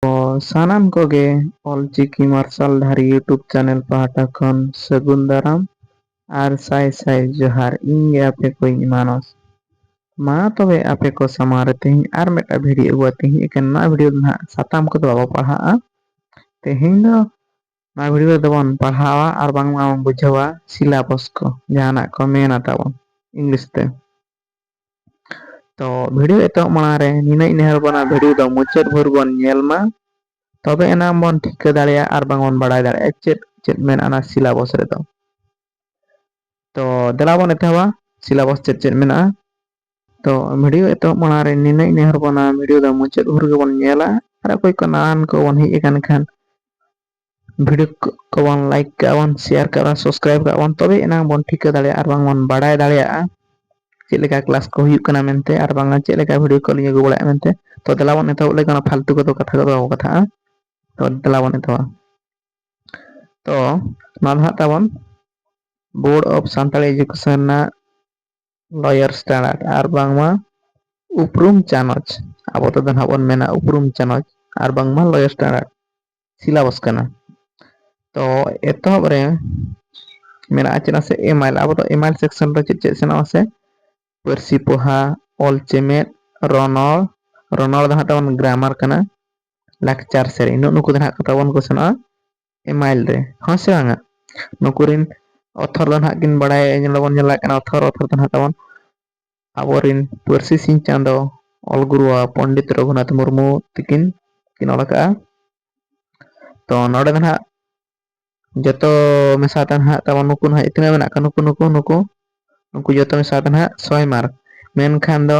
ᱚ ᱥᱟᱱᱟᱢ ᱠᱚᱜᱮ ᱚᱞ ᱪᱤᱠᱤ ᱢᱟᱨᱥᱟᱞ ᱫᱷᱟᱨᱤ ᱭᱩᱴᱩᱵᱽ ᱪᱮᱱᱮᱞ ᱯᱟᱦᱴᱟ ᱠᱷᱚᱱ ᱥᱟᱹᱜᱩᱱ ᱫᱟᱨᱟᱢ ᱟᱨ ᱥᱟᱭ ᱥᱟᱭ ᱡᱚᱦᱟᱨ ᱤᱧ ᱜᱮ ᱟᱯᱮ ᱠᱚᱭᱤᱡ ᱢᱟᱱᱚᱥ ᱢᱟ ᱛᱚᱵᱮ ᱟᱯᱮ ᱠᱚ ᱥᱟᱢᱟᱝ ᱨᱮ ᱛᱮᱦᱮᱧ ᱟᱨ ᱢᱤᱫᱴᱟᱝ ᱵᱷᱤᱰᱤᱭᱳ ᱟᱹᱜᱩ ᱠᱟᱛᱮ ᱦᱮᱡ ᱟᱠᱟᱱᱟ ᱱᱚᱣᱟ ᱵᱷᱤᱰᱤᱭᱳ ᱫᱚ ᱱᱟᱦᱟᱜ ᱥᱟᱛᱟᱢ ᱠᱚᱫᱚ ᱵᱟᱵᱚ ᱯᱟᱲᱦᱟᱜᱼᱟ ᱛᱮᱦᱮᱧ ᱫᱚ ᱱᱚᱣᱟ ᱵᱷᱤᱰᱤᱭᱳ ᱨᱮᱫᱚ ᱵᱚᱱ ᱯᱟᱲᱦᱟᱣᱟ ᱟᱨ ᱵᱟᱝᱢᱟ ᱵᱚᱱ ᱵᱩᱡᱷᱟᱹᱣᱟ ᱥᱤᱞᱟᱵᱚᱥ ᱠᱚ ᱡᱟᱦᱟᱱᱟᱜ ᱠᱚ ᱢᱮᱱᱟ ᱛᱟᱵᱚᱱ ᱤᱝᱞᱤᱥ ᱛᱮ ᱛᱚ ᱵᱷᱤᱰᱭᱳ ᱮᱛᱚᱦᱚᱵ ᱢᱟᱲᱟᱝ ᱨᱮ ᱱᱤᱱᱟᱹᱧ ᱱᱮᱦᱚᱨ ᱟᱵᱚᱱᱟ ᱵᱷᱤᱰᱭᱳ ᱫᱚ ᱢᱩᱪᱟᱹᱫ ᱵᱷᱳᱨ ᱵᱚᱱ ᱧᱮᱞ ᱢᱟ ᱛᱚᱵᱮ ᱮᱱᱟᱝ ᱵᱚᱱ ᱴᱷᱤᱠᱟᱹ ᱫᱟᱲᱮᱭᱟᱜᱼᱟ ᱟᱨ ᱵᱟᱝ ᱵᱚᱱ ᱵᱟᱲᱟᱭ ᱫᱟᱲᱮᱭᱟᱜᱼᱟ ᱪᱮᱫ ᱪᱮᱫ ᱢᱮᱱᱟᱜᱼᱟ ᱚᱱᱟ ᱥᱤᱞᱟᱵᱚᱥ ᱨᱮᱫᱚ ᱛᱚ ᱫᱮᱞᱟ ᱵᱚᱱ ᱮᱛᱚᱦᱚᱵᱟ ᱥᱤᱞᱟᱵᱚᱥ ᱪᱮᱫ ᱪᱮᱫ ᱢᱮᱱᱟᱜᱼᱟ ᱛᱚ ᱵᱷᱤᱰᱭᱳ ᱮᱛᱚᱦᱚᱵ ᱢᱟᱲᱟᱝ ᱨᱮ ᱱᱤᱱᱟᱹᱧ ᱱᱮᱦᱚᱨ ᱟᱵᱚᱱᱟ ᱵᱷᱤᱰᱭᱳ ᱫᱚ ᱢᱩᱪᱟᱹᱫ ᱵᱷᱳᱨ ᱜᱮᱵᱚᱱ ᱧᱮᱞᱟ ᱟᱨ ᱚᱠᱚᱭ ᱠᱚ ᱱᱟᱣᱟᱱ ᱠᱚᱵᱚᱱ ᱦᱮᱡ ᱟᱠᱟᱱ ᱠᱷᱟᱱ ᱵᱷᱤᱰᱤᱭᱳ ᱠᱚᱵᱚᱱ ᱞᱟᱭᱤᱠ ᱠᱟᱜᱼᱟ ᱵᱚᱱ ᱥᱮᱭᱟᱨ ᱠᱟᱜᱼᱟ ᱵᱚᱱ ᱥᱟᱵᱥᱠᱨᱟᱭᱤᱵ ᱠᱟᱜᱼᱟ ᱵᱚᱱ ᱛᱚᱵᱮ ᱮᱱᱟᱝ ᱵᱚᱱ ᱴᱷᱤᱠᱟᱹ ᱫᱟᱲᱮᱭᱟᱜᱼᱟ ᱟᱨ ᱵᱟᱝ ᱵᱚᱱ ᱵᱟᱲᱟᱭ ᱫᱟᱲᱮᱭᱟᱜᱼᱟ ᱪᱮᱫ ᱞᱮᱠᱟ ᱠᱞᱟᱥ ᱠᱚ ᱦᱩᱭᱩᱜ ᱠᱟᱱᱟ ᱢᱮᱱᱛᱮ ᱟᱨ ᱵᱟᱝ ᱪᱮᱫ ᱞᱮᱠᱟ ᱵᱷᱤᱰᱤᱭᱳ ᱠᱚᱞᱤᱧ ᱟᱹᱜᱩ ᱵᱟᱲᱟᱭᱟ ᱢᱮᱱᱛᱮ ᱛᱚ ᱫᱮᱞᱟ ᱵᱚᱱ ᱮᱛᱚᱦᱚᱵ ᱞᱮᱠᱷᱟᱱ ᱚᱱᱟ ᱯᱷᱟᱞᱛᱩ ᱠᱚᱫᱚ ᱠᱟᱛᱷᱟ ᱠᱚᱫᱚ ᱵᱟᱵᱚ ᱠᱟᱛᱷᱟᱜᱼᱟ ᱛᱚ ᱫᱮᱞᱟ ᱵᱚᱱ ᱮᱛᱚᱦᱚᱵᱟ ᱛᱚ ᱱᱚᱣᱟ ᱫᱚ ᱦᱟᱸᱜ ᱛᱟᱵᱚᱱ ᱵᱳᱨᱰ ᱚᱯᱷ ᱥᱟᱱᱛᱟᱲ ᱮᱡᱩᱠᱮᱥᱚᱱ ᱨᱮᱱᱟᱜ ᱞᱚᱭᱚᱨ ᱥᱴᱮᱱᱟᱨ ᱟᱨ ᱵᱟᱝᱢᱟ ᱩᱯᱨᱩᱢ ᱪᱟᱱᱚᱪ ᱟᱵᱚ ᱛᱮᱫᱚ ᱱᱟᱦᱟᱜ ᱵᱚᱱ ᱢᱮᱱᱟ ᱩᱯᱨᱩᱢ ᱪᱟᱱᱚᱪ ᱟᱨ ᱵᱟᱝᱢᱟ ᱞᱚᱭᱚᱨ ᱥᱴᱮᱱᱟᱨ ᱥᱤᱞᱟᱵᱚᱥ ᱠᱟᱱᱟ ᱛᱚ ᱮᱛᱚᱦᱚᱵ ᱨᱮ ᱢᱮᱱᱟᱜᱼᱟ ᱪᱮᱫᱟᱜ ᱥᱮ ᱮᱢᱟᱭᱤᱞ ᱟᱵᱚ ᱫᱚ ᱮᱢᱟᱭᱤᱞ ᱥᱮᱠᱥᱚᱱ ᱨᱮ ᱪᱮᱫ ᱪᱮᱫ ᱥᱮᱱᱚᱜᱼᱟ ᱥᱮ ᱯᱟᱹᱨᱥᱤ ᱯᱚᱦᱟ ᱚᱞ ᱪᱮᱢᱮᱫ ᱨᱚᱱᱚᱲ ᱨᱚᱱᱚᱲ ᱫᱚ ᱦᱟᱸᱜ ᱛᱟᱵᱚᱱ ᱜᱨᱟᱢᱟᱨ ᱠᱟᱱᱟ ᱞᱟᱠᱪᱟᱨ ᱥᱮᱨᱮᱧ ᱱᱩᱜ ᱱᱩᱠᱩ ᱫᱚ ᱦᱟᱸᱜ ᱛᱟᱵᱚᱱ ᱠᱚ ᱥᱮᱱᱚᱜᱼᱟ ᱮᱢᱟᱭᱤᱞ ᱨᱮ ᱦᱚᱸ ᱥᱮ ᱵᱟᱝᱟ ᱱᱩᱠᱩ ᱨᱮᱱ ᱚᱛᱷᱚᱨ ᱫᱚ ᱱᱟᱦᱟᱜ ᱠᱤᱱ ᱵᱟᱲᱟᱭᱟ ᱧᱮᱞ ᱫᱚᱵᱚᱱ ᱧᱮᱞᱮᱫ ᱠᱟᱱᱟ ᱚᱛᱷᱚᱨ ᱚᱛᱷᱚᱨ ᱫᱚ ᱱᱟᱦᱟᱜ ᱛᱟᱵᱚᱱ ᱟᱵᱚ ᱨᱮᱱ ᱯᱟᱹᱨᱥᱤ ᱥᱤᱧ ᱪᱟᱸᱫᱚ ᱚᱞ ᱜᱩᱨᱩᱣᱟᱜ ᱯᱚᱱᱰᱤᱛ ᱨᱚᱜᱷᱩᱱᱟᱛᱷ ᱢᱩᱨᱢᱩ ᱛᱤᱠᱤᱱ ᱠᱤᱱ ᱚᱞ ᱟᱠᱟᱜᱼᱟ ᱛᱚ ᱱᱚᱰᱮ ᱫᱚ ᱱᱟᱦᱟᱜ ᱡᱚᱛᱚ ᱢᱮᱥᱟ ᱛᱮ ᱱᱟᱦᱟᱜ ᱛᱟᱵᱚᱱ ᱱᱩᱠᱩ ᱱᱟᱦᱟᱜ ᱛᱤᱱᱟᱹᱜ ᱢᱮᱱᱟᱜ ᱠᱚᱣᱟ ᱱᱩᱠᱩ ᱱᱩᱠᱩ ᱱᱩᱠᱩ ᱱᱩᱠᱩ ᱡᱚᱛᱚ ᱢᱮᱥᱟ ᱛᱮ ᱱᱟᱦᱟᱜ ᱥᱚᱭ ᱢᱟᱨᱠ ᱢᱮᱱᱠᱷᱟᱱ ᱫᱚ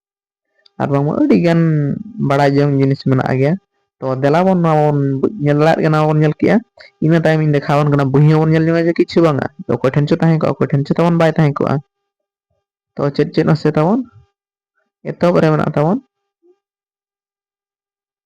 ᱟᱨ ᱵᱟᱝᱢᱟ ᱟᱹᱰᱤ ᱜᱟᱱ ᱵᱟᱲᱟᱭ ᱡᱚᱝ ᱡᱤᱱᱤᱥ ᱢᱮᱱᱟᱜ ᱜᱮᱭᱟ ᱛᱚ ᱫᱮᱞᱟ ᱵᱚᱱ ᱱᱚᱣᱟ ᱵᱚᱱ ᱧᱮᱞ ᱫᱟᱲᱮᱭᱟᱜ ᱠᱟᱱᱟ ᱱᱚᱣᱟ ᱵᱚᱱ ᱧᱮᱞ ᱠᱮᱜᱼᱟ ᱤᱱᱟᱹ ᱛᱟᱭᱚᱢ ᱤᱧ ᱫᱮᱠᱷᱟᱣ ᱟᱵᱚᱱ ᱠᱟᱱᱟ ᱵᱩᱦᱤ ᱦᱚᱸᱵᱚᱱ ᱧᱮᱞ ᱧᱚᱜᱟ ᱡᱮ ᱠᱤᱪᱷᱩ ᱵᱟᱝᱟ ᱚᱠᱚᱭ ᱴᱷᱮᱱ ᱪᱚ ᱛᱟᱦᱮᱸ ᱠᱚᱜᱼᱟ ᱚᱠᱚᱭ ᱴᱷᱮᱱ ᱪᱚ ᱛᱟᱵᱚᱱ ᱵᱟᱭ ᱛᱟᱦᱮᱸ ᱠᱚᱜᱼᱟ ᱛᱚ ᱪᱮᱫ ᱪᱮᱫ ᱦᱚᱸ ᱥᱮ ᱛᱟᱵᱚᱱ ᱮᱛᱚᱦᱚᱵ ᱨᱮ ᱢᱮᱱᱟᱜ ᱛᱟᱵᱚᱱ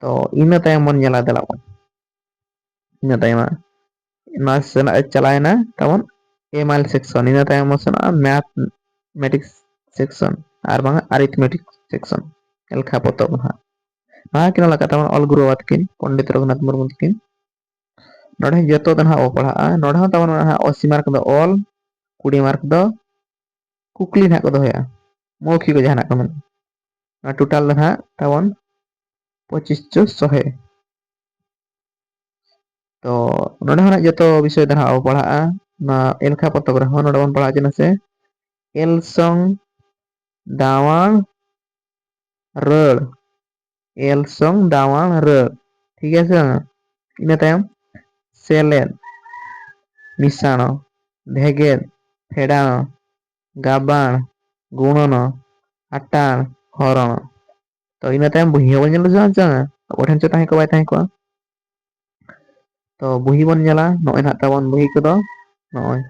ᱛᱚ ᱤᱱᱟᱹ ᱛᱟᱭᱚᱢ ᱵᱚᱱ ᱧᱮᱞᱟ ᱫᱮᱞᱟ ᱵᱚᱱ ᱤᱱᱟᱹ ᱛᱟᱭᱚᱢ ᱦᱟᱸᱜ ᱱᱚᱣᱟ ᱥᱮᱱᱟᱜ ᱮ ᱪᱟᱞᱟᱣᱮᱱᱟ ᱛᱟᱵᱚᱱ ᱮᱢᱟᱭᱤᱞ ᱥᱮᱠᱥᱚᱱ ᱤᱱᱟᱹ ᱛᱟᱭᱚᱢ ᱵᱚᱱ ᱥᱮᱱᱚᱜᱼᱟ ᱢᱮᱛᱷ ᱢᱮᱴᱤᱠᱥ ᱥᱮᱠᱥᱚᱱ ᱟᱨ ᱵᱟᱝᱟ ᱟᱨᱤᱛᱷᱢᱮᱴᱤᱠ ᱥᱮᱠᱥᱚᱱ ᱮᱞᱠᱷᱟ ᱯᱚᱛᱚᱵ ᱦᱟᱸᱜ ᱱᱚᱣᱟ ᱠᱤᱱ ᱚᱞ ᱟᱠᱟᱫ ᱛᱟᱵᱚᱱ ᱚᱞ ᱜᱩᱨᱩ ᱵᱟᱵᱟ ᱛᱟᱹᱠᱤᱱ ᱯᱚᱱᱰᱤᱛ ᱨᱚᱜᱷᱩᱱᱟᱛᱷ ᱢᱩᱨᱢᱩ ᱛᱟᱹᱠᱤᱱ ᱱᱚᱰᱮ ᱡᱚᱛᱚ ᱫᱚ ᱱᱟᱦᱟᱜ ᱵᱚ ᱯᱟᱲᱦᱟᱜᱼᱟ ᱱᱚᱰᱮ ᱦᱚᱸ ᱛᱟᱵᱚᱱ ᱱᱟᱦᱟᱜ ᱚᱥᱤ ᱢᱟᱨᱠ ᱫᱚ ᱚᱞ ᱠᱩᱲᱤ ᱢᱟᱨᱠ ᱫᱚ ᱠᱩᱠᱞᱤ ᱱᱟᱦᱟᱜ ᱠᱚ ᱫᱚᱦᱚᱭᱟ ᱢᱚᱣᱠᱷᱤ ᱠᱚ ᱡᱟᱦᱟᱱᱟᱜ ᱠᱚ ᱢᱮᱱᱟ ᱱᱚᱣᱟ ᱴᱳᱴᱟᱞ ᱫᱚ ᱱᱟᱦᱟᱜ ᱛᱟᱵᱚᱱ ᱯᱚᱸᱪᱤᱥ ᱪᱚ ᱥᱚᱦᱮ ᱛᱚ ᱱᱚᱰᱮ ᱦᱚᱸ ᱱᱟᱦᱟᱜ ᱡᱚᱛᱚ ᱵᱤᱥᱚᱭ ᱫᱚ ᱱᱟᱦᱟᱜ ᱵᱚ ᱯᱟᱲᱦᱟᱜᱼᱟ ᱱᱚᱣᱟ ᱮᱞᱠᱷᱟ ᱯᱚᱛᱚᱵ ᱨᱮᱦᱚᱸ ᱱᱚᱰᱮ ᱵᱚᱱ ᱯᱟᱲᱦᱟᱣ ᱦᱚᱪᱚ ᱱᱟᱥᱮ ᱮᱞᱥᱚᱝ ᱫᱟᱣᱟᱝ ᱨᱟᱹᱲ ᱮᱞ ᱥᱚᱝ ᱫᱟᱣᱟᱬ ᱨᱟᱹ ᱴᱷᱤᱠ ᱟᱪᱷᱮ ᱵᱟᱝ ᱤᱱᱟᱹ ᱛᱟᱭᱚᱢ ᱥᱮᱞᱮᱫ ᱢᱤᱥᱟᱬᱚ ᱵᱷᱮᱜᱮᱫ ᱯᱷᱮᱰᱟᱬᱚ ᱜᱟᱵᱟᱬ ᱜᱩᱬᱚᱱᱚ ᱟᱴᱟᱬ ᱦᱚᱨᱚᱬᱚ ᱛᱚ ᱤᱱᱟᱹ ᱛᱟᱭᱚᱢ ᱵᱩᱦᱤ ᱦᱚᱸᱵᱚᱱ ᱧᱮᱞ ᱞᱮᱫᱟ ᱥᱮ ᱵᱟᱝ ᱟᱵᱚ ᱴᱷᱮᱱ ᱪᱮᱫ ᱛᱟᱦᱮᱸ ᱠᱚᱜᱼᱟ ᱵᱟᱭ ᱛᱟᱦᱮᱸ ᱠᱚᱜᱼᱟ ᱛᱚ ᱵᱩᱦᱤ ᱵᱚᱱ ᱧᱮᱞᱟ ᱱᱚᱜᱼᱚᱭ ᱱᱟᱦᱟᱜ ᱛᱟᱵᱚᱱ ᱵᱩᱦᱤ ᱠᱚᱫᱚ ᱱᱚᱜᱼᱚᱭ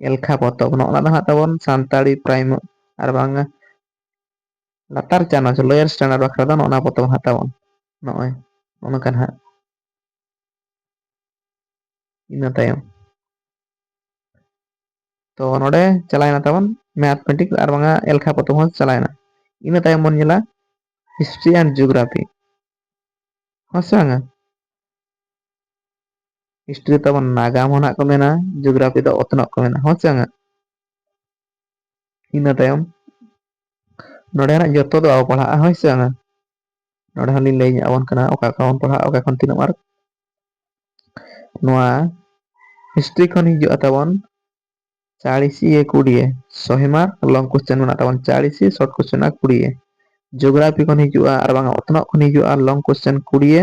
ᱮᱞᱠᱷᱟ ᱯᱚᱛᱚᱵ ᱱᱚᱜᱼᱚ ᱱᱟ ᱫᱚ ᱱᱟᱦᱟᱜ ᱛᱟᱵᱚᱱ ᱥᱟᱱᱛᱟᱲᱤ ᱯᱨᱟᱭᱢᱟᱨ ᱟᱨ ᱵᱟᱝ ᱞᱟᱛᱟᱨ ᱪᱟᱱᱟᱪ ᱞᱳᱭᱟᱨ ᱥᱴᱮᱱᱰᱟᱨᱰ ᱵᱟᱠᱷᱨᱟ ᱫᱚ ᱱᱚᱜᱼᱚ ᱱᱟ ᱯᱚᱛᱚᱵ ᱦᱟᱛᱟᱣᱚᱜᱼᱟ ᱱᱚᱜᱼᱚᱭ ᱱᱚᱜᱼᱚ ᱱᱚᱝᱠᱟ ᱱᱟᱦᱟᱜ ᱤᱱᱟᱹ ᱛᱟᱭᱚᱢ ᱛᱚ ᱱᱚᱰᱮ ᱪᱟᱞᱟᱣᱮᱱᱟ ᱛᱟᱵᱚᱱ ᱢᱮᱛᱷᱢᱮᱴᱤᱠ ᱟᱨ ᱵᱟᱝᱟ ᱮᱞᱠᱷᱟ ᱯᱚᱛᱚᱵ ᱦᱚᱸ ᱪᱟᱞᱟᱣᱮᱱᱟ ᱤᱱᱟᱹ ᱛᱟᱭᱚᱢ ᱵᱚᱱ ᱧᱮᱞᱟ ᱦᱤᱥᱴᱨᱤ ᱮᱱᱰ ᱡᱤᱭᱳᱜᱨᱟᱯᱷᱤ ᱦᱚᱸ ᱥᱮ ᱵᱟᱝᱟ ᱦᱤᱥᱴᱨᱤ ᱛᱟᱵᱚᱱ ᱱᱟᱜᱟᱢ ᱦᱚᱸ ᱱᱟᱜ ᱠᱚ ᱢᱮᱱᱟ ᱡᱤᱭᱳᱜᱨᱟᱯᱷᱤ ᱫᱚ ᱚᱛᱱᱚᱜ ᱠᱚ ᱢᱮᱱᱟ ᱦᱚᱸ ᱥᱮ ᱵᱟᱝᱟ ᱤᱱᱟᱹ ᱛᱟᱭᱚᱢ ᱱᱚᱰᱮᱱᱟᱜ ᱡᱚᱛᱚ ᱫᱚ ᱵᱟᱵᱚ ᱯᱟᱲᱦᱟᱜᱼᱟ ᱦᱳᱭ ᱥᱮ ᱵᱟᱝᱟ ᱱᱚᱰᱮ ᱦᱚᱸᱞᱤᱧ ᱞᱟᱹᱭ ᱧᱚᱜ ᱟᱵᱚᱱ ᱠᱟᱱᱟ ᱚᱠᱟ ᱚᱠᱟ ᱵᱚᱱ ᱯᱟᱲᱦᱟᱜᱼᱟ ᱚᱠᱟ ᱠᱷᱚᱱ ᱛᱤᱱᱟᱹᱜ ᱢᱟᱨᱠ ᱱᱚᱣᱟ ᱦᱤᱥᱴᱨᱤ ᱠᱷᱚᱱ ᱦᱤᱡᱩᱜᱼᱟ ᱛᱟᱵᱚᱱ ᱪᱟᱲᱤᱥᱤ ᱮ ᱠᱩᱲᱤᱭᱮ ᱥᱚᱦᱮ ᱢᱟᱨᱠ ᱞᱚᱝ ᱠᱚᱥᱪᱮᱱ ᱢᱮᱱᱟᱜ ᱛᱟᱵᱚᱱ ᱪᱟᱲᱤᱥᱤ ᱥᱚᱨᱴ ᱠᱚᱥᱪᱮᱱ ᱢᱮᱱᱟᱜᱼᱟ ᱠᱩᱲᱤᱭᱮ ᱡᱳᱜᱽᱨᱟᱯᱷᱤ ᱠᱷᱚᱱ ᱦᱤᱡᱩᱜᱼᱟ ᱟᱨ ᱵᱟᱝᱟ ᱚᱛᱱᱚᱜ ᱠᱷᱚᱱ ᱦᱤᱡᱩᱜᱼᱟ ᱞᱚᱝ ᱠᱚᱥᱪᱮᱱ ᱠᱩᱲᱤᱭᱮ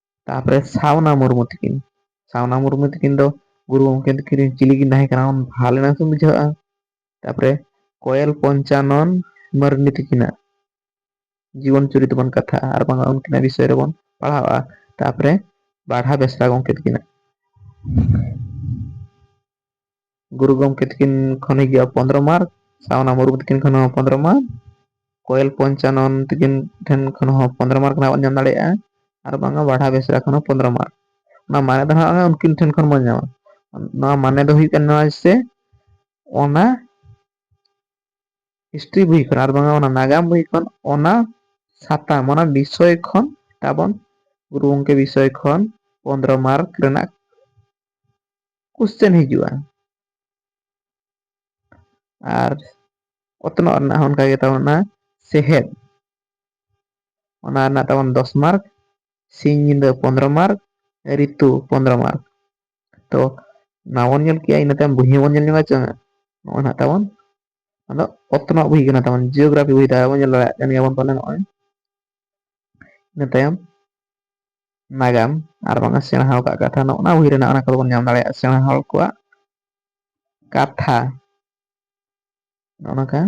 ᱛᱟᱯᱚᱨᱮ ᱥᱟᱣᱱᱟ ᱢᱩᱨᱢᱩ ᱛᱤᱠᱤᱱ ᱥᱟᱣᱱᱟ ᱢᱩᱨᱢᱩ ᱛᱤᱠᱤᱱ ᱫᱚ ᱜᱩᱨᱩ ᱜᱚᱢᱠᱮ ᱛᱤᱠᱤᱱ ᱨᱮᱱ ᱪᱤᱞᱤ ᱠᱤᱱ ᱛᱟᱦᱮᱸ ᱠᱟᱱᱟ ᱵᱷᱟᱞᱮ ᱱᱟᱜ ᱠᱤᱱ ᱵᱩᱡᱷᱟᱹᱜᱼᱟ ᱛᱟᱯᱚᱨᱮ ᱠᱚᱭᱮᱞ ᱯᱚᱧᱪᱟᱱᱚᱱ ᱢᱟᱹᱨᱰᱤ ᱛᱤᱠᱤᱱᱟᱜ ᱡᱤᱵᱚᱱ ᱪᱩᱨᱤᱛ ᱵᱚᱱ ᱠᱟᱛᱷᱟᱜᱼᱟ ᱟᱨ ᱵᱟᱝ ᱩᱱᱠᱤᱱᱟᱜ ᱵᱤᱥᱚᱭ ᱨᱮᱵᱚᱱ ᱯᱟᱲᱦᱟᱣᱼᱟ ᱛᱟᱯᱚᱨᱮ ᱵᱟᱲᱦᱟ ᱵᱮᱥᱨᱟ ᱜᱚᱢᱠᱮ ᱛᱤᱠᱤᱱᱟᱜ ᱜᱩᱨᱩ ᱜᱚᱢᱠᱮ ᱛᱤᱠᱤᱱ ᱠᱷᱚᱱ ᱦᱤᱡᱩᱜᱼᱟ ᱯᱚᱸᱫᱽᱨᱚ ᱢᱟᱨᱪ ᱥᱟᱣᱱᱟ ᱢᱩᱨᱢᱩ ᱛᱤᱠᱤᱱ ᱠᱷᱚᱱ ᱦᱚᱸ ᱯᱚᱸᱫᱽᱨᱚ ᱢᱟᱨᱪ ᱠᱚᱭᱮᱞ ᱯᱚᱧᱪᱟᱱᱚᱱ ᱛᱤᱠᱤᱱ ᱴᱷᱮᱱ ᱠᱷᱚᱱ ᱦᱚᱸ ᱯᱚᱸᱫᱽᱨᱚ ᱢᱟᱨᱠ ᱨᱮᱱᱟᱜ ᱵᱚᱱ ᱧᱟᱢ ᱫᱟᱲᱮᱭᱟᱜᱼᱟ ᱟᱨ ᱵᱟᱝᱟ ᱵᱟᱲᱦᱟ ᱵᱮᱥᱨᱟ ᱠᱷᱚᱱ ᱦᱚᱸ ᱯᱚᱸᱫᱽᱨᱚ ᱢᱟᱨᱠ ᱚᱱᱟ ᱢᱟᱱᱮ ᱫᱚ ᱦᱟᱸᱜ ᱩᱱᱠᱤᱱ ᱴᱷᱮᱱ ᱠᱷᱚᱱ ᱵᱚᱱ ᱧᱟᱢᱟ ᱱᱚᱣᱟ ᱢᱟᱱᱮ ᱫᱚ ᱦᱩᱭᱩᱜ ᱠᱟᱱᱟ ᱱᱚᱣᱟ ᱥᱮ ᱚᱱᱟ ᱦᱤᱥᱴᱨᱤ ᱵᱳᱭ ᱠᱷᱚᱱ ᱟᱨ ᱵᱟᱝᱟ ᱚᱱᱟ ᱱᱟᱜᱟᱢ ᱵᱳᱭ ᱠᱷᱚᱱ ᱚᱱᱟ ᱥᱟᱛᱟᱢ ᱚᱱᱟ ᱵᱤᱥᱚᱭ ᱠᱷᱚᱱ ᱛᱟᱵᱚᱱ ᱜᱩᱨᱩ ᱜᱚᱝᱠᱮ ᱵᱤᱥᱚᱭ ᱠᱷᱚᱱ ᱯᱚᱸᱫᱽᱨᱚ ᱢᱟᱨᱠ ᱨᱮᱱᱟᱜ ᱠᱩᱥᱪᱮᱱ ᱦᱤᱡᱩᱜᱼᱟ ᱟᱨ ᱚᱛᱱᱚᱜ ᱨᱮᱱᱟᱜ ᱦᱚᱸ ᱚᱱᱠᱟᱜᱮ ᱛᱟᱵᱚᱱᱟ ᱥᱮᱦᱮᱫ ᱚᱱᱟ ᱨᱮᱱᱟᱜ ᱛᱟᱵᱚᱱ ᱫᱚᱥ ᱢᱟᱨᱠ ᱥᱤᱧ ᱧᱤᱫᱟᱹ ᱯᱚᱱᱫᱽᱨᱚ ᱢᱟᱨᱠ ᱨᱤᱛᱩ ᱯᱚᱱᱫᱽᱨᱚ ᱢᱟᱨᱠ ᱛᱚ ᱱᱚᱣᱟ ᱵᱚᱱ ᱧᱮᱞ ᱠᱮᱜᱼᱟ ᱤᱱᱟᱹ ᱛᱟᱭᱚᱢ ᱵᱩᱦᱤ ᱦᱚᱸᱵᱚᱱ ᱧᱮᱞ ᱧᱟᱢᱟ ᱪᱮ ᱱᱚᱜᱼᱚᱭ ᱱᱟᱜ ᱛᱟᱵᱚᱱ ᱟᱫᱚ ᱚᱛᱱᱚᱜ ᱵᱩᱦᱤ ᱠᱟᱱᱟ ᱛᱟᱵᱚᱱ ᱡᱤᱭᱳᱜᱨᱟᱯᱷᱤ ᱵᱩᱦᱤ ᱫᱟᱨᱟᱭ ᱵᱚᱱ ᱧᱮᱞ ᱫᱟᱲᱮᱭᱟᱜ ᱠᱟᱱ ᱜᱮᱭᱟ ᱵᱚᱱ ᱯᱟᱞᱮ ᱱᱚᱜᱼᱚᱭ ᱤᱱᱟᱹ ᱛᱟᱭᱚᱢ ᱱᱟᱜᱟᱢ ᱟᱨ ᱵᱟᱝ ᱥᱮᱬᱟ ᱟᱠᱟᱫ ᱠᱟᱛᱷᱟ ᱱᱚᱜᱼᱚ ᱱᱚᱣᱟ ᱵᱳᱭ ᱨᱮᱱᱟᱜ ᱚᱱᱟ ᱠᱚᱫᱚ ᱵᱚᱱ ᱧᱟᱢ ᱫᱟᱲᱮᱭᱟᱜᱼᱟ ᱥᱮᱬᱟ ᱦᱚᱲ ᱠᱚᱣᱟᱜ ᱠᱟᱛᱷᱟ ᱱᱚᱜᱼᱚ ᱱᱚᱝᱠᱟ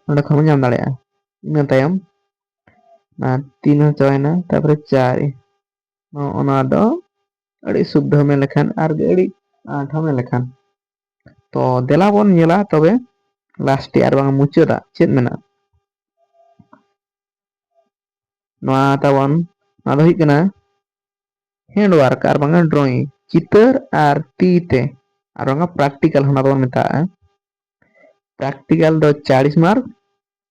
ᱱᱚᱸᱰᱮ ᱠᱷᱚᱱ ᱵᱚᱱ ᱧᱟᱢ ᱫᱟᱲᱮᱭᱟᱜᱼᱟ ᱤᱱᱟᱹ ᱛᱟᱭᱚᱢ ᱛᱤᱱ ᱦᱚᱸ ᱪᱟᱵᱟᱭᱮᱱᱟ ᱛᱟᱨᱯᱚᱨᱮ ᱪᱟᱨ ᱱᱚᱜᱼᱚ ᱱᱚᱣᱟ ᱫᱚ ᱟᱹᱰᱤ ᱥᱩᱵᱫᱷᱚ ᱢᱮᱱ ᱞᱮᱠᱷᱟᱱ ᱟᱨ ᱟᱹᱰᱤ ᱟᱸᱴ ᱦᱚᱸ ᱢᱮᱱ ᱞᱮᱠᱷᱟᱱ ᱛᱚ ᱫᱮᱞᱟ ᱵᱚᱱ ᱧᱮᱞᱟ ᱛᱚᱵᱮ ᱞᱟᱥᱴᱮ ᱟᱨ ᱵᱟᱝ ᱢᱩᱪᱟᱹᱫᱟᱜ ᱪᱮᱫ ᱢᱮᱱᱟᱜᱼᱟ ᱱᱚᱣᱟ ᱛᱟᱵᱚᱱ ᱱᱚᱣᱟ ᱫᱚ ᱦᱩᱭᱩᱜ ᱠᱟᱱᱟ ᱦᱮᱸᱰ ᱣᱟᱨᱠ ᱟᱨ ᱵᱟᱝᱟ ᱰᱨᱚᱭᱤᱝ ᱪᱤᱛᱟᱹᱨ ᱟᱨ ᱛᱤ ᱛᱮ ᱟᱨ ᱵᱟᱝᱟ ᱯᱨᱮᱠᱴᱤᱠᱟᱞ ᱚᱱᱟ ᱫᱚᱵᱚᱱ ᱢᱮᱛᱟᱜᱼᱟ ᱯᱨᱮᱠᱴᱤᱠᱟᱞ ᱫᱚ ᱪᱟᱲᱤᱥ ᱢᱟᱨᱠ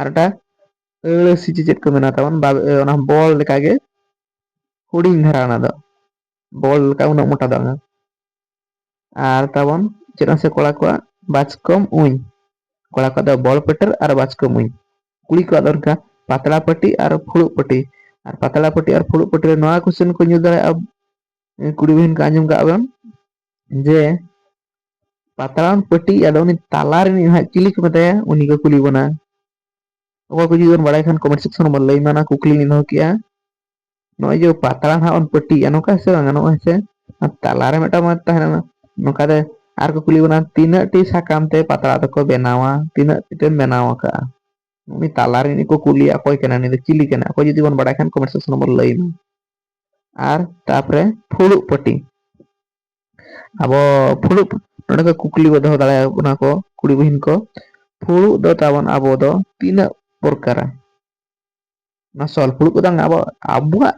ᱟᱨ ᱮᱴᱟ ᱟᱹᱲᱟᱹ ᱥᱤ ᱪᱮ ᱪᱮᱫ ᱠᱚ ᱢᱮᱱᱟ ᱛᱟᱵᱚᱱ ᱵᱟ ᱮ ᱚᱱᱟ ᱵᱚᱞ ᱞᱮᱠᱟ ᱜᱮ᱾ ᱦᱩᱰᱤᱧ ᱫᱷᱟᱨᱟ ᱚᱱᱟ ᱫᱚ ᱵᱚᱞ ᱞᱮᱠᱟ ᱩᱱᱟᱹᱜ ᱢᱚᱴᱟ ᱫᱚ ᱵᱟᱝᱟ᱾ ᱟᱨ ᱛᱟᱵᱚᱱ ᱪᱮᱫᱟᱜ ᱥᱮ ᱠᱚᱲᱟ ᱠᱚᱣᱟᱜ ᱵᱟᱪᱠᱚᱢ ᱩᱧ᱾ ᱠᱚᱲᱟ ᱠᱚᱣᱟᱜ ᱫᱚ ᱵᱚᱞ ᱯᱟᱹᱴᱟᱹᱨ ᱟᱨ ᱵᱟᱪᱠᱚᱢ ᱩᱧ᱾ ᱠᱩᱲᱤ ᱠᱚᱣᱟᱜ ᱫᱚ ᱚᱱᱠᱟ ᱯᱟᱛᱲᱟ ᱯᱟᱹᱴᱤ ᱟᱨ ᱯᱷᱩᱲᱩᱜ ᱯᱟᱹᱴᱤ᱾ ᱟᱨ ᱯᱟᱛᱲᱟ ᱯᱟᱹᱴᱤ ᱟᱨ ᱯᱷᱩᱲᱩᱜ ᱯᱟᱹᱴᱤ ᱨᱮ ᱱᱚᱣᱟ ᱠᱚᱥᱪᱮᱱ ᱠᱚ ᱧᱩᱨ ᱫᱟᱲᱮᱭᱟᱜᱼᱟ᱾ ᱮ ᱠᱩᱲᱤ ᱵᱤᱱ ᱠᱚ ᱟᱸᱡᱚᱢ ᱠᱟᱜ ᱵᱮᱱ᱾ ᱡᱮ ᱯᱟᱛᱲᱟᱢ ᱯᱟᱹᱴᱤ ᱟᱫᱚ ᱩᱱᱤ ᱛᱟᱞᱟ ᱨᱤᱱᱤᱡ ᱦᱟᱸᱜ ᱪᱤᱞᱤ ᱠᱚ ᱢᱮᱛᱟᱭᱟ ᱩᱱᱤ ᱠᱚ ᱠᱩᱞᱤ ᱵᱚᱱᱟ ᱚᱠᱚᱭ ᱠᱚ ᱡᱩᱫᱤ ᱵᱮᱱ ᱵᱟᱲᱟᱭ ᱠᱷᱟᱱ ᱠᱚᱢᱮᱱᱴ ᱥᱮᱠᱥᱚᱱ ᱨᱮᱵᱚᱱ ᱞᱟᱹᱭ ᱢᱟ ᱚᱱᱟ ᱠᱩᱠᱞᱤ ᱞᱤᱧ ᱫᱚᱦᱚ ᱠᱮᱜᱼᱟ ᱱᱚᱜᱼᱚᱭ ᱡᱮ ᱯᱟᱛᱲᱟ ᱦᱟᱸᱜ ᱵᱚᱱ ᱯᱟᱹᱴᱤᱭᱮᱜᱼᱟ ᱱᱚᱝᱠᱟ ᱦᱮᱸ ᱥᱮ ᱵᱟᱝ ᱱᱚᱜᱼᱚᱭ ᱦᱮᱸ ᱥᱮ ᱛᱟᱞᱟᱨᱮ ᱢᱤᱫᱴᱟᱝ ᱢᱟᱫ ᱛᱟᱦᱮᱱᱟ ᱱᱚᱝᱠᱟ ᱛᱮ ᱟᱨ ᱠᱚ ᱠᱩᱞᱤ ᱵᱚᱱᱟ ᱛᱤᱱᱟᱹᱜ ᱴᱤ ᱥᱟᱠᱟᱢ ᱛᱮ ᱯᱟᱛᱲᱟ ᱫᱚᱠᱚ ᱵᱮᱱᱟᱣᱟ ᱛᱤᱱᱟᱹᱜ ᱴᱤ ᱛᱮᱢ ᱵᱮᱱᱟᱣ ᱟᱠᱟᱜᱼᱟ ᱩᱱᱤ ᱛᱟᱞᱟ ᱨᱤᱱᱤᱡ ᱠᱚ ᱠᱩᱞᱤᱭᱟ ᱚᱠᱚᱭ ᱠᱟᱱᱟ ᱱᱩᱭ ᱫᱚ ᱪᱤᱞᱤ ᱠᱟᱱᱟ ᱚᱠᱚᱭ ᱡᱩᱫᱤ ᱵᱚᱱ ᱵᱟᱲᱟᱭ ᱠᱷᱟᱱ ᱠᱚᱢᱮᱱᱴ ᱥᱮᱠᱥᱚᱱ ᱨᱮᱵᱚᱱ ᱞᱟᱹᱭ ᱢᱟ ᱟᱨ ᱛᱟᱯᱚᱨᱮ ᱯᱷᱩᱲᱩᱜ ᱯᱟᱹᱴᱤ ᱟᱵᱚ ᱯᱷᱩᱲᱩᱜ ᱱᱚᱰᱮ ᱠᱚ ᱠᱩᱠᱞᱤ ᱠᱚ ᱫᱚᱦᱚ ᱫᱟᱲᱮᱭᱟ ᱵᱚᱱᱟ ᱠᱚ ᱠᱩᱲᱤ ᱵᱚᱦᱤᱱ ᱠᱚ ᱯᱷᱩᱲᱩᱜ ᱫᱚ ᱛᱟᱵᱚᱱ ᱟᱵᱚ ᱫᱚ ᱛᱤᱱᱟᱹᱜ ᱯᱨᱚᱠᱟᱨᱟ ᱚᱱᱟ ᱥᱚᱞ ᱯᱷᱩᱲᱩᱜ ᱠᱚᱫᱚ ᱟᱵᱚ ᱟᱵᱚᱣᱟᱜ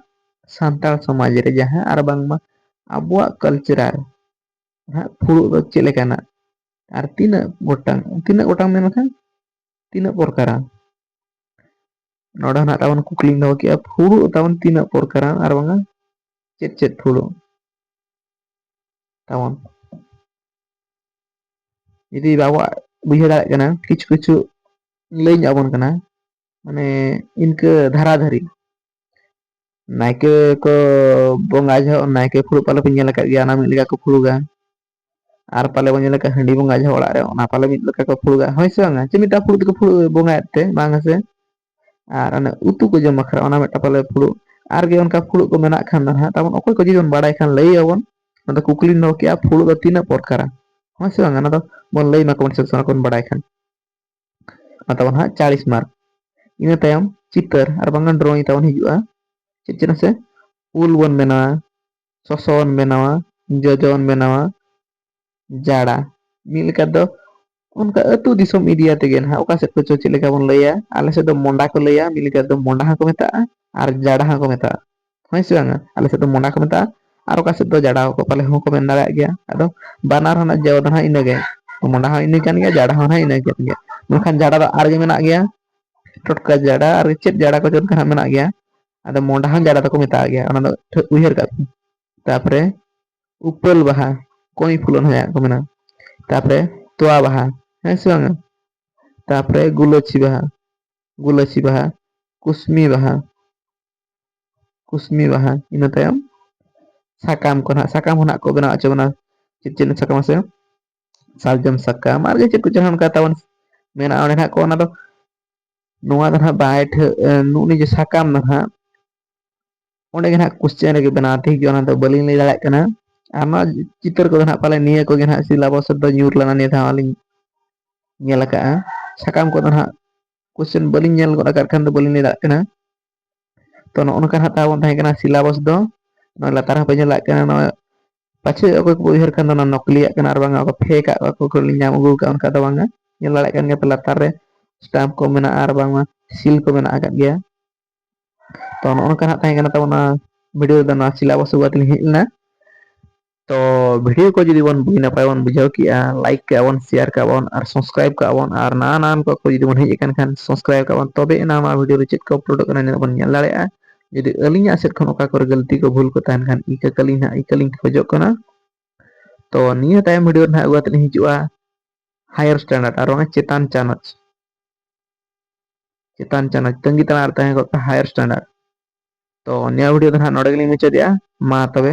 ᱥᱟᱱᱛᱟᱲ ᱥᱚᱢᱟᱡᱽ ᱨᱮ ᱡᱟᱦᱟᱸ ᱟᱨ ᱵᱟᱝᱢᱟ ᱟᱵᱚᱣᱟᱜ ᱠᱟᱞᱪᱟᱨ ᱦᱟᱸᱜ ᱯᱷᱩᱲᱩᱜ ᱫᱚ ᱪᱮᱫ ᱞᱮᱠᱟᱱᱟᱜ ᱟᱨ ᱛᱤᱱᱟᱹᱜ ᱜᱚᱴᱟᱝ ᱛᱤᱱᱟᱹᱜ ᱜᱚᱴᱟᱝ ᱢᱮᱱ ᱞᱮᱠᱷᱟᱱ ᱛᱤᱱᱟᱹᱜ ᱯᱨᱚᱠᱟᱨᱟ ᱱᱚᱰᱮ ᱦᱚᱸ ᱛᱟᱵᱚᱱ ᱠᱩᱠᱞᱤ ᱫᱚᱦᱚ ᱠᱮᱫᱼᱟ ᱯᱷᱩᱲᱩᱜ ᱛᱟᱵᱚᱱ ᱛᱤᱱᱟᱹᱜ ᱯᱨᱚᱠᱟᱨᱟ ᱟᱨ ᱵᱟᱝᱟ ᱪᱮᱫ ᱪᱮᱫ ᱯᱷᱩᱲᱩᱜ ᱛᱟᱵᱚᱱ ᱡᱩᱫᱤ ᱵᱟᱵᱚ ᱵᱩᱡᱷᱟᱹᱣ ᱫᱟᱲᱮᱭᱟᱜ ᱠᱟᱱᱟ ᱠᱤᱪᱷᱩ ᱠᱤᱪᱷᱩ ᱞᱟᱹᱭ ᱧᱚᱜ ᱟᱵᱚᱱ ᱠᱟᱱᱟ ᱢᱟᱱᱮ ᱤᱱᱠᱟᱹ ᱫᱷᱟᱨᱟ ᱫᱷᱟᱨᱤ ᱱᱟᱭᱠᱮ ᱠᱚ ᱵᱚᱸᱜᱟ ᱡᱚᱦᱚᱜ ᱱᱟᱭᱠᱮ ᱯᱷᱩᱲᱩᱜ ᱯᱟᱞᱚ ᱯᱮ ᱧᱮᱞ ᱟᱠᱟᱫ ᱜᱮᱭᱟ ᱚᱱᱟ ᱢᱤᱫ ᱞᱮᱠᱟ ᱠᱚ ᱯᱷᱩᱲᱩᱜᱟ ᱟᱨ ᱯᱟᱞᱮ ᱵᱚᱱ ᱧᱮᱞ ᱠᱟᱜ ᱦᱟᱺᱰᱤ ᱵᱚᱸᱜᱟ ᱡᱟᱦᱟᱸ ᱚᱲᱟᱜ ᱨᱮ ᱚᱱᱟ ᱯᱟᱞᱮ ᱢᱤᱫ ᱞᱮᱠᱟ ᱠᱚ ᱯᱷᱩᱲᱩᱜᱟ ᱦᱳᱭ ᱥᱮ ᱵᱟᱝ ᱪᱮᱫ ᱢᱤᱫᱴᱟᱝ ᱯᱷᱩᱲᱩᱜ ᱛᱮᱠᱚ ᱯᱷᱩᱲᱩᱜ ᱵᱚᱸᱜᱟᱭᱮᱫ ᱛᱮ ᱵᱟᱝ ᱦᱮᱸᱥᱮ ᱟᱨ ᱚᱱᱮ ᱩᱛᱩ ᱠᱚ ᱡᱚᱢ ᱵᱟᱠᱷᱨᱟ ᱚᱱᱟ ᱢᱤᱫᱴᱟᱝ ᱯᱟᱞᱮ ᱯᱷᱩᱲᱩᱜ ᱟᱨᱜᱮ ᱚᱱᱠᱟ ᱯᱷᱩᱲᱩᱜ ᱠᱚ ᱢᱮᱱᱟᱜ ᱠᱷᱟᱱ ᱫᱚ ᱦᱟᱸᱜ ᱛᱟᱵᱚᱱ ᱚᱠᱚᱭ ᱠᱚ ᱡᱩᱫᱤ ᱵᱚᱱ ᱵᱟᱲᱟᱭ ᱠᱷᱟᱱ ᱞᱟᱹᱭ ᱟᱵᱚᱱ ᱟᱫᱚ ᱠᱩᱠᱞᱤ ᱫᱚᱦᱚ ᱠᱮᱜᱼᱟ ᱯᱷᱩᱲᱩᱜ ᱫᱚ ᱛᱤᱱᱟᱹᱜ ᱯᱚᱨᱠᱟᱨᱟ ᱦᱳᱭ ᱥᱮ ᱵᱟᱝ ᱚᱱᱟ ᱫᱚ ᱵᱚᱱ ᱞᱟᱹᱭ ᱢᱟᱠᱚ ᱥᱮ ᱥᱟᱱᱟ ᱠᱚᱵᱚᱱ ᱵᱟᱲᱟᱭ ᱠᱷᱟᱱ ᱢᱟ ᱛᱟᱵᱚᱱ ᱦᱟᱸᱜ ᱪᱟᱞᱞᱤᱥ ᱢᱟᱨᱠ ᱤᱱᱟᱹ ᱛᱟᱭᱚᱢ ᱪᱤᱛᱟᱹᱨ ᱟᱨ ᱵᱟᱝᱠᱷᱟᱱ ᱰᱨᱚᱭᱤᱝ ᱛᱟᱵᱚᱱ ᱦᱤᱡᱩᱜᱼᱟ ᱪᱮᱫ ᱪᱮᱫ ᱱᱟᱥᱮ ᱩᱞ ᱵᱚᱱ ᱵᱮᱱᱟᱣᱟ ᱥᱚᱥᱚ ᱵᱚᱱ ᱵᱮᱱᱟᱣᱟ ᱡᱚᱡᱚ ᱵᱚᱱ ᱵᱮᱱᱟᱣᱟ ᱡᱟᱲᱟ ᱢᱤᱫ ᱞᱮᱠᱟ ᱫᱚ ᱚᱱᱠᱟ ᱟᱹᱛᱩ ᱫᱤᱥᱚᱢ ᱮᱨᱤᱭᱟ ᱛᱮᱜᱮ ᱱᱟᱦᱟᱜ ᱚᱠᱟ ᱥᱮᱫ ᱠᱚᱪᱚ ᱪᱮᱫ ᱞᱮᱠᱟ ᱵᱚᱱ ᱞᱟᱹᱭᱟ ᱟᱞᱮ ᱥᱮᱫ ᱫᱚ ᱢᱚᱸᱰᱟ ᱠᱚ ᱞᱟᱹᱭᱟ ᱢᱤᱫ ᱞᱮᱠᱟ ᱛᱮᱫᱚ ᱢᱚᱸᱰᱟ ᱦᱚᱸᱠᱚ ᱢᱮᱛᱟᱜᱼᱟ ᱟᱨ ᱡᱟᱰᱟ ᱦᱚᱸᱠᱚ ᱢᱮᱛᱟᱜᱼᱟ ᱦᱳᱭ ᱥᱮ ᱵᱟᱝᱟ ᱟᱞᱮ ᱥᱮᱫ ᱫᱚ ᱢᱚᱸᱰᱟ ᱠᱚ ᱢᱮᱛᱟᱜᱼᱟ ᱟᱨ ᱚᱠᱟ ᱥᱮᱫ ᱫᱚ ᱡᱟᱰᱟ ᱦᱚᱸ ᱠᱚ ᱯᱟᱞᱮ ᱦᱚᱸᱠᱚ ᱢᱮᱱ ᱫᱟᱲᱮᱭᱟᱜ ᱜᱮᱭᱟ ᱟᱫᱚ ᱵᱟᱱᱟᱨ ᱨᱮᱱᱟᱜ ᱡᱚ ᱫᱚ ᱦᱟᱸᱜ ᱤᱱᱟᱹᱜᱮ ᱢᱚᱸᱰᱟ ᱦᱚᱸ ᱤᱱᱟᱹ ᱠᱟᱱ ᱜᱮᱭᱟ ᱡᱟᱰᱟ ᱦᱚᱸ ᱤᱱᱟᱹ ᱠᱟᱱ ᱜᱮᱭᱟ ᱢᱮᱱᱠᱷᱟᱱ ᱡᱟᱰᱟ ᱫᱚ ᱟᱨᱜᱮ ᱢᱮᱱᱟᱜ ᱜᱮᱭᱟ ᱴᱚᱴᱠᱟ ᱡᱟᱰᱟ ᱟᱨ ᱪᱮᱫ ᱡᱟᱰᱟ ᱠᱚᱪᱚ ᱚᱱᱠᱟ ᱦᱟᱸᱜ ᱢᱮᱱᱟᱜ ᱜᱮᱭᱟ ᱟᱫᱚ ᱢᱚᱸᱰᱷᱟ ᱦᱚᱸ ᱡᱟᱰᱟ ᱫᱚᱠᱚ ᱢᱮᱛᱟᱣᱟᱜ ᱜᱮᱭᱟ ᱚᱱᱟ ᱫᱚ ᱴᱷᱟᱹᱣᱠᱟᱹ ᱩᱭᱦᱟᱹᱨ ᱠᱟᱜ ᱯᱮ ᱛᱟᱯᱚᱨᱮ ᱩᱯᱟᱹᱞ ᱵᱟᱦᱟ ᱠᱚᱸᱭ ᱯᱷᱩᱞ ᱚᱱᱟ ᱡᱟᱦᱟᱸ ᱠᱚ ᱢᱮᱱᱟ ᱛᱟᱯᱚᱨᱮ ᱛᱚᱣᱟ ᱵᱟᱦᱟ ᱦᱮᱸ ᱥᱮ ᱵᱟᱝᱟ ᱛᱟᱯᱚᱨᱮ ᱜᱩᱞᱟᱹᱪᱤ ᱵᱟᱦᱟ ᱜᱩᱞᱟᱹᱪᱤ ᱵᱟᱦᱟ ᱠᱩᱥᱢᱤ ᱵᱟᱦᱟ ᱠᱩᱥᱢᱤ ᱵᱟᱦᱟ ᱤᱱᱟᱹ ᱛᱟᱭᱚᱢ ᱥᱟᱠᱟᱢ ᱠᱚ ᱱᱟᱦᱟᱜ ᱥᱟᱠᱟᱢ ᱦᱚᱸ ᱱᱟᱦᱟᱜ ᱠᱚ ᱵᱮᱱᱟᱣ ᱦᱚᱪᱚ ᱵᱚᱱᱟ ᱪᱮᱫ ᱪᱮᱫ ᱥᱟᱠᱟᱢ ᱢᱟᱥᱮ ᱥᱟᱨᱡᱚᱢ ᱥᱟᱠᱟᱢ ᱟᱨ ᱪᱮᱫ ᱠᱚᱪᱚᱝ ᱚᱱᱠᱟ ᱛᱟᱵᱚᱱ ᱢᱮᱱᱟᱜᱼᱟ ᱚᱸᱰᱮ ᱱᱟᱦᱟᱜ ᱠᱚ ᱚᱱᱟ ᱫᱚ ᱱᱚᱣᱟ ᱫᱚ ᱱᱟᱦᱟᱜ ᱵᱟᱭ ᱴᱷᱟᱹᱜ ᱱᱩᱜ ᱱᱤᱡᱮ ᱥᱟᱠᱟᱢ ᱫᱚ ᱱᱟᱦᱟᱜ ᱚᱸᱰᱮ ᱜᱮ ᱱᱟᱦᱟᱜ ᱠᱚᱥᱪᱮᱱ ᱨᱮᱜᱮ ᱵᱮᱱᱟᱣ ᱴᱷᱤᱠ ᱜᱮᱭᱟ ᱚᱱᱟ ᱫᱚ ᱵᱟᱹᱞᱤᱧ ᱞᱟᱹᱭ ᱫᱟᱲᱮᱭᱟᱜ ᱠᱟᱱᱟ ᱟᱨ ᱱᱚᱣᱟ ᱪᱤᱛᱟᱹᱨ ᱠᱚᱫᱚ ᱱᱟᱦᱟᱜ ᱯᱟᱞᱮ ᱱᱤᱭᱟᱹ ᱠᱚᱜᱮ ᱱᱟᱦᱟᱜ ᱥᱤᱞᱟᱵᱚᱥ ᱨᱮᱫᱚ ᱧᱩᱨ ᱞᱮᱱᱟ ᱱᱤᱭᱟᱹ ᱫᱷᱟᱣ ᱟᱹᱞᱤᱧ ᱧᱮᱞ ᱟᱠᱟᱜᱼᱟ ᱥᱟᱠᱟᱢ ᱠᱚᱫᱚ ᱱᱟᱦᱟᱜ ᱠᱚᱥᱪᱮᱱ ᱵᱟᱹᱞᱤᱧ ᱧᱮᱞ ᱜᱚᱫ ᱟᱠᱟᱫ ᱠᱷᱟᱱ ᱫᱚ ᱵᱟᱹᱞᱤᱧ ᱞᱟᱹᱭ ᱫᱟᱲᱮᱭᱟᱜ ᱠᱟᱱᱟ ᱛᱚ ᱱᱚᱜᱼᱚ ᱱᱚᱝᱠᱟ ᱦᱟᱸᱜ ᱛᱟᱵᱚᱱ ᱛᱟᱦᱮᱸ ᱠᱟᱱᱟ ᱥᱤᱞᱟᱵᱚᱥ ᱫᱚ ᱱᱚᱜᱼᱚᱭ ᱞᱟᱛᱟᱨ ᱦᱚᱸᱯᱮ ᱧᱮᱞ ᱫᱟᱲᱮᱭᱟᱜ ᱠᱟᱱᱟ ᱱᱚᱜᱼᱚᱭ ᱯᱟᱪᱷᱮ ᱚᱠᱚᱭ ᱠᱚᱠᱚ ᱩᱭᱦᱟᱹᱨ ᱠᱷᱟᱱ ᱫᱚ ᱚᱱᱟ ᱱᱚᱠᱞᱤᱭᱟᱜ ᱠᱟᱱᱟ ᱟᱨ ᱵᱟᱝᱟ ᱚᱠᱚ ᱯᱷᱮᱠ ᱟᱜ ᱚᱠᱚᱭ ᱠᱚ ᱞᱤᱧ ᱧᱟᱢ ᱟᱹᱜᱩ ᱠᱟᱜᱼᱟ ᱚᱱᱠᱟ ᱫᱚ ᱵᱟᱝᱟ ᱧᱮᱞ ᱫᱟᱲᱮᱭᱟᱜ ᱠᱟᱱ ᱜᱮᱭᱟ ᱯᱮ ᱞᱟᱛᱟᱨ ᱨᱮ ᱥᱴᱟᱢᱯ ᱠᱚ ᱢᱮᱱᱟᱜᱼᱟ ᱟᱨ ᱵᱟᱝᱢᱟ ᱥᱤᱞ ᱠᱚ ᱢᱮᱱᱟᱜ ᱟᱠᱟᱫ ᱜᱮᱭᱟ ᱛᱚ ᱱᱚᱜᱼᱚ ᱱᱚᱝᱠᱟ ᱦᱟᱸᱜ ᱛᱟᱦᱮᱸ ᱠᱟᱱᱟ ᱛᱟᱵᱚᱱᱟ ᱵᱷᱤᱰᱤᱭᱳ ᱫᱚ ᱱᱚᱣᱟ ᱥᱤᱞᱟᱵᱚᱥ ᱟᱹᱜᱩ ᱠᱟᱛᱮ ᱞᱤᱧ ᱦᱮᱡ ᱞᱮᱱᱟ ᱛᱚ ᱵᱷᱤᱰᱭᱳ ᱠᱚ ᱡᱩᱫᱤ ᱵᱚᱱ ᱵᱩᱜᱤ ᱱᱟᱯᱟᱭ ᱵᱚᱱ ᱵᱩᱡᱷᱟᱹᱣ ᱠᱮᱜᱼᱟ ᱞᱟᱭᱤᱠ ᱠᱮᱜᱼᱟ ᱵᱚᱱ ᱥᱮᱭᱟᱨ ᱠᱮᱜᱼᱟ ᱵᱚᱱ ᱟᱨ ᱥᱟᱥᱠᱨᱟᱭᱤᱵᱽ ᱠᱟᱜ ᱵᱚᱱ ᱟᱨ ᱱᱟᱣᱟ ᱱᱟᱣᱟᱱ ᱠᱚ ᱠᱚ ᱡᱩᱫᱤ ᱵᱚᱱ ᱦᱮᱡ ᱟᱠᱟᱱ ᱠᱷᱟᱱ ᱥᱟᱥᱠᱨᱟᱭᱤᱵᱽ ᱠᱟᱜ ᱵᱚᱱ ᱛᱚᱵᱮ ᱮᱱᱟ ᱱᱚᱣᱟ ᱵᱷᱤᱰᱭᱳ ᱨᱮ ᱪᱮᱫ ᱠᱚ ᱩᱯᱞᱳᱰᱚᱜ ᱠᱟᱱᱟ ᱱᱤᱱᱟᱹᱜ ᱵᱚᱱ ᱧᱮᱞ ᱫᱟᱲᱮᱭᱟᱜᱼᱟ ᱡᱩᱫᱤ ᱟᱹᱞᱤᱧᱟᱜ ᱥᱮᱫ ᱠᱷᱚᱱ ᱚᱠᱟ ᱠᱚᱨᱮ ᱜᱟᱹᱞᱛᱤ ᱠᱚ ᱵᱷᱩᱞ ᱠᱚ ᱛᱟᱦᱮᱱ ᱠᱷᱟᱱ ᱤᱠᱟᱹ ᱠᱟᱹᱞᱤᱧ ᱦᱟᱸᱜ ᱤᱠᱟᱹ ᱞᱤᱧ ᱠᱷᱚᱡᱚᱜ ᱠᱟᱱᱟ ᱛᱚ ᱱᱤᱭᱟᱹ ᱛᱟᱭᱚᱢ ᱵᱷᱤᱰᱭᱳ ᱨᱮ ᱱᱟᱜ ᱟᱹᱜᱩ ᱠᱟᱛᱮᱫ ᱞᱤᱧ ᱦᱤᱡᱩᱜᱼᱟ ᱦᱟᱭᱟᱨ ᱥᱴᱮᱱᱰᱟᱨᱰ ᱟᱨ ᱵᱟᱝ ᱪᱮᱛᱟᱱ ᱪᱟᱱᱟᱪ ᱪᱮᱛᱟᱱ ᱪᱟᱱᱟᱪ ᱛᱟᱺᱜᱤ ᱛᱟᱲᱟᱨᱮ ᱛᱟᱦᱮᱸ ᱠᱚᱜ ᱯᱮ ᱦᱟᱭᱟᱨ ᱥᱴᱮᱱᱰᱟᱨᱰ ᱛᱚ ᱱᱤᱭᱟᱹ ᱵᱷᱤᱰᱭᱳ ᱫᱚ ᱦᱟᱸᱜ ᱱᱚᱰᱮ ᱜᱮᱞᱤᱧ ᱢᱩᱪᱟᱹᱫᱮᱜᱼᱟ ᱢᱟ ᱛᱚᱵᱮ